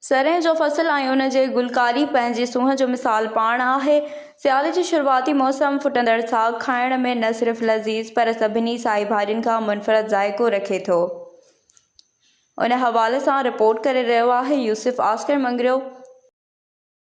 سرهين جو فصل ۽ ان جي گلڪاري پنهنجي سونهن جو مثال پاڻ آهي. سياري جي شروعاتي موسم ڦٽندڙ ساڳ کائڻ ۾ نه صرف لذيذ پر سڀني سائي ڀاڄين کان منفرد ذائقو رکي ٿو. ان حوالي سان رپورٽ ڪري رهيو آهي يوسف آسڪر مڱريو.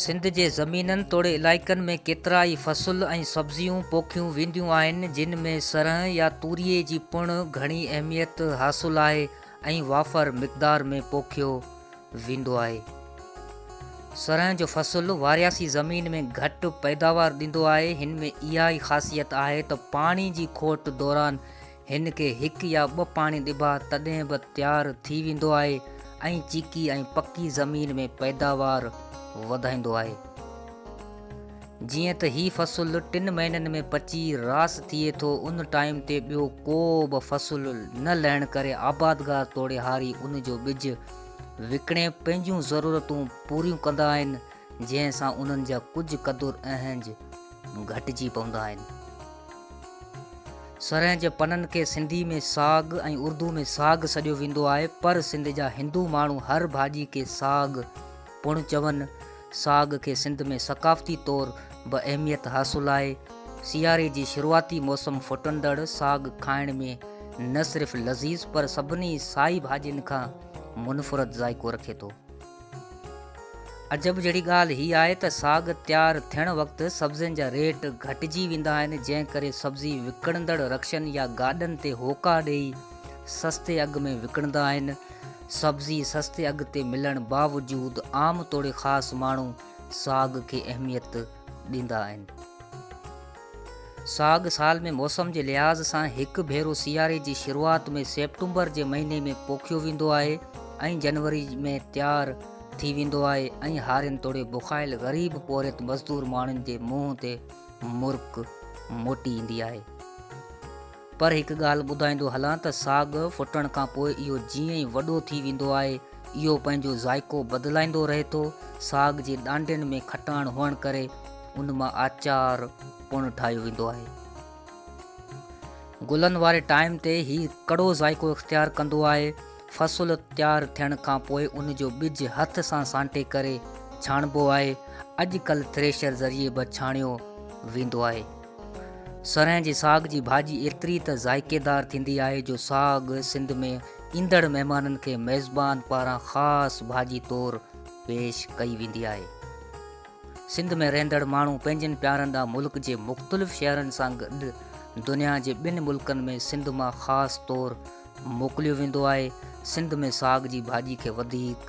سنڌ جي زمينن توڙي علائقن ۾ ڪيترائي فصل ۽ سبزيون پوکيون وينديون آهن، جن ۾ سرهه يا توريي جي پڻ گهڻي اهميت حاصل آهي ۽ وافر مقدار ۾ پوکيو ويندو آهي. سرهه جو فصل وارياسي زمين ۾ گهٽ پيداوار ڏيندو آهي، هن ۾ اها ئي خاصيت آهي ته پاڻي جي کوٽ دوران هن کي هڪ يا ٻه پاڻي ڏبا تڏهن به تيار ٿي ويندو آهي ۽ چيڪي ۽ پڪي زمين ۾ پيداوار وڌائيندو آهي. جيئن ته هي فصل ٽن مهينن ۾ پچي راس ٿئي ٿو ان ٽائيم تي ٻيو ڪو به فصل نه لهڻ ڪري آبادگار توڙيهاري ان جو ٻج وڪڻي پنهنجون ضرورتون پوريون ڪندا آهن جنهن سان انهن جا ڪجهه قدر اهنج گهٽجي پوندا آهن. سرهه جي پنن کي سنڌي ۾ ساڳ ۽ اردو ۾ ساڳ سڏيو ويندو آهي پر سنڌ جا هندو ماڻهو هر ڀاڄي کي ساڳ پڻ چون. ساڳ کي سنڌ ۾ ثقافتي طور به اهميت حاصل آهي. سياري جي شروعاتي موسم ڦٽندڙ ساڳ کائڻ ۾ نه صرف لذيذ پر سڀني سائي ڀاڄين کان منفرد ذائقو رکي ٿو. عجب جهڙي ڳالهه هي آهي ته ساڳ تيار ٿيڻ وقت سبزين جا ريٽ گهٽجي ويندا آهن جنهن ڪري سبزي وڪڻندڙ رڪشن يا گاڏن تي هوڪا ڏئي سستي اگهه ۾ وڪڻندا آهن. سبزي سستي اگهه تي ملڻ باوجود عام توڙي خاص ماڻهو ساڳ کي اهميت ڏيندا آهن. ساڳ سال ۾ موسم جي لحاظ سان هڪ ڀيرو سياري جي شروعات ۾ سيپٽمبر جي مهيني ۾ پوکيو ويندو آهي ۽ جنوري ۾ تيار ٿي ويندو آهي ۽ هارين توڙي بکايل غريب پورهيت مزدور ماڻهن جي منهن تي مرڪ موٽي ايندي آهي. پر هڪ ڳالهه ٻڌائيندو هلان ته ساڳ ڦٽڻ کان پوء اهو جيئن ئي وڏو ٿي ويندو آهي، اهو پنهنجو ذائقو بدلائيندو رهي ٿو. ساڳ جي ڏانڊين ۾ کٽاڻ هئڻ ڪري ان مان آچار پڻ ٺاهيو ويندو آهي. گلن واري ٽائيم تي هي ڪڙو ذائقو اختيار ڪندو آهي. فصل تيار ٿيڻ کان پوء ان جو ٻج هٿ سان سانٽي ڪري ڇاڻبو آهي. اڄ ڪلهه ٿريشر ذريعي به ڇاڻيو ويندو آهي. سرهين جي ساڳ جي ڀاڄي ايتري ته ذائقيدار ٿيندي آهي جو ساڳ سنڌ ۾ ايندڙ مهمانن کي ميزبان پاران خاص ڀاڄي طور پيش ڪئي ويندي آهي. سنڌ ۾ رهندڙ ماڻهو پنهنجن پيارن ڏانهن ملڪ جي مختلف شهرن سان گڏ دنيا جي ٻن ملڪن ۾ سنڌ مان خاص طور موڪليو ويندو آهي. سنڌ ۾ ساڳ جي ڀاڄي کي وڌيڪ.